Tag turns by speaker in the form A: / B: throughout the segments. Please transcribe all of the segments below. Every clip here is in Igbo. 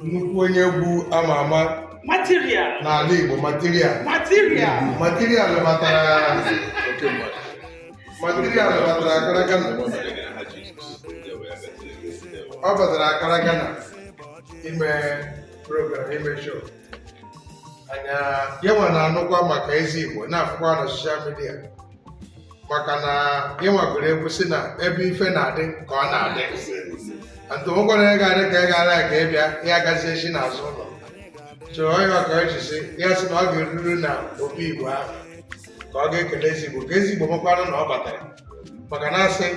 A: nnukwu onye egwu ama ama n'ala Igbo material batara Accra Ghana ọ batara Accra Ghana ime program ime show anya ya nwa na-anụkwa maka eze Igbo na-afụkwa na soshal midia maka na ya nwa gụrụ egwu sị na ebe ife na-adị ka ọ na-adị atụ ụgwọrọ ya ga-adị ka ị gara ka ị bịa ya gazie chi n'azụ ụlọ chọọ onye ọka eji si ya sị na ọ ga-eruru na obi igbo ahụ ka ọ ga-ekele eze igbo ka eze igbo makwanụ na ọ batara maka na asị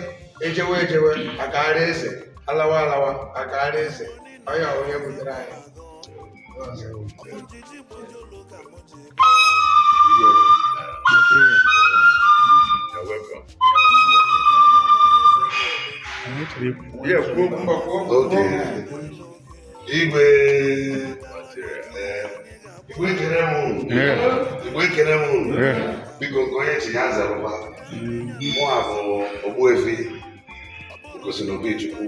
A: ejewe ejewe akaara eze alawa alawa akaara eze onye onye butere anyị
B: igwe igwe ekene m unu biko nke onye chi ya zarụba mụwa bụ ogbuefi osinobichukwu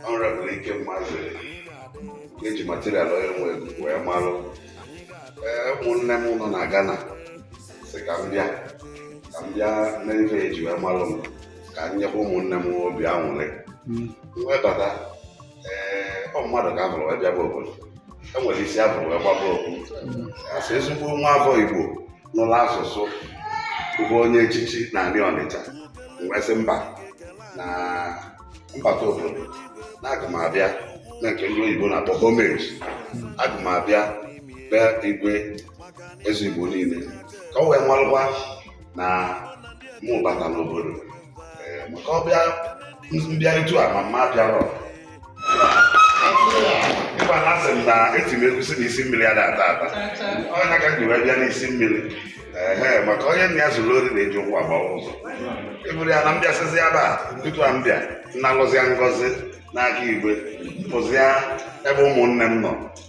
B: honourable ikem mazeli eji material onye nwe egwu wee malụ ee ụmụnne m nọ na Ghana sị ka m bịa ka m bịa mee ife eji wee malụ m ka m nyekwa ụmụnne m obi anwụrị m wee bata ee ọ mmadụ ka afụrụ wee bịaba obodo e nwere isi afụrụ wee kpaba okpu asị ezigbo nwa afọ Igbo nụrụ asụsụ bụ onye echichi n'ani ọnịcha m wee sị mba na m bata obodo na aga m abịa na nke ndị oyibo na-akpọ homage aga m abịa be igwe eze igbo niile ka o wee malụkwa na mụ bata n'obodo maka ọbịa m bịarịtu a ma m abịarọ ịgba na asị m na eti m egwu sị na isi mmiri ada-ata ata ọ nya ka m ji wee bịa n'isi mmiri ee maka onye nna ya ziri ori na-eji ụkwụ agbawa ụzọ eburu ya na m bịasịzi ebe a n'ụtụtụ a m bịa nalụzịa ngọzi n'aka igwe m pụzịa ebe ụmụnne m nọ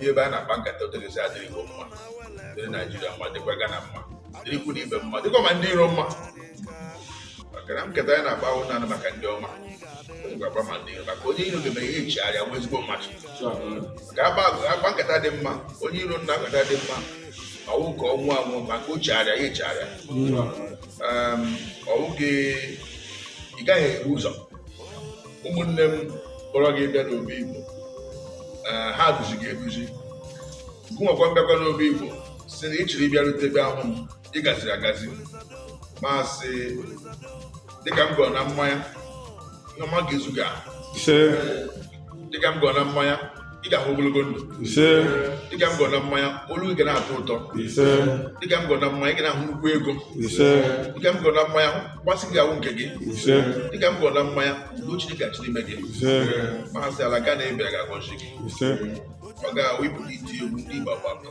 C: ihe ebe a na-akpa nkata otu ọ ga-esi adịrị igbo mma dịrị naijiria mma dịkwa gana mma dịrị ikwu na ibe mma dịkwa ma ndị iro mma maka na nkata anyị na-akpa awụghị naanị maka ndị ọma ga-agba ma ndị iro maka onye iro ga-eme ihe nchigharị agwa ezigbo mmadụ maka akpa nkata dị mma onye iro nụ na nkata dị mma ọ wụ ka ọ nwụọ anwụ ma ka o chigharịa ya echigharịa ọ wụ gị ị gaghị ebu ụzọ ụmụnne m kpọrọ gị bịa n'obi Igbo eh, ha duzi gị eduzi gụnwakwa mbịakwa n'obi Igbo si na ị chịrị ị bịarute ebe ahụ m ị gaziri agazi ma sị dịka m gọọ na mmanya na mma ga-ezu gị ahụ dịka m gọọ na mmanya ị ga-ahụ ogologo ndụ ise dịka m gọọ na mmanya olu gị ga na-atọ ụtọ ise dịka m gọọ na mmanya ị ga na-ahụ nnukwu ego ise dịka m gọọ na mmanya mgbasị gị ahụ nke gị ise dịka m gọọ na mmanya udo Chineke ga-achị n'ime gị ise ma sị ala Ghana ị bịara ga-agọzi gị ise ọ ga-awụ ị pụta iti egwu ndị Igbo gbakọ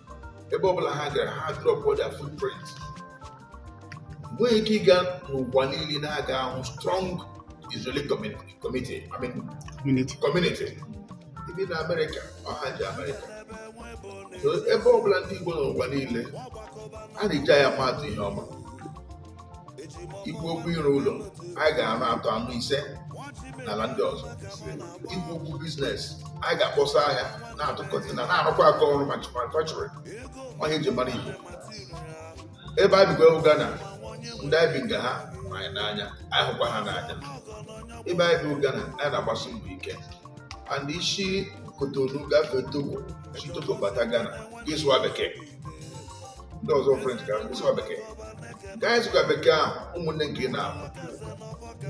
C: ebe ọ bụla ha gara ha drọpụ their footprint nwee ike ịga n'ụwa niile na ị ga-ahụ strong Israeli community ị bịa na Amerịka ọ ha ji Amerịka so ebe ọ bụla ndị Igbo n'ụwa niile a na-eji anyị ama atụ ihe ọma i kwuo okwu ịrụ ụlọ anyị ga-arụ atọ anọ ise n'ala ndị ọzọ i kwuo okwu biznes anyị ga-akpọsa ahịa na-atụ kọntena na-arụkwa aka ọrụ ma manufacturing ọ ihe e ji mara igbo ebe anyị bikwa wụ gana ndị anyị bi nga ha ma anyị n'anya anyị hụkwa ha n'anya ebe anyị bi gana anyị na-agbasi mbọ ike and i si kotonu gafee togo si togo bata gana gị sụwa bekee ndị ọzọ french ka asụsụ bekee ka anyị sụka bekee ahụ ụmụnne nke ị na-ahụ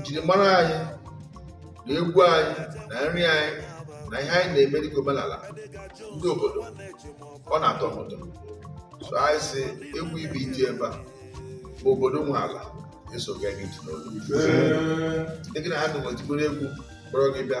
C: njirimara anyị na egwu anyị na nri anyị na ihe anyị na-eme dịka omenala ndị obodo ọ na-atọ m ụtọ so anyị sị egwu ị bịa iti ebe a bụ obodo nwe ala eso gị ntị n'olu ndị gị na ha na-enwetibere egwu kpọrọ gị bịa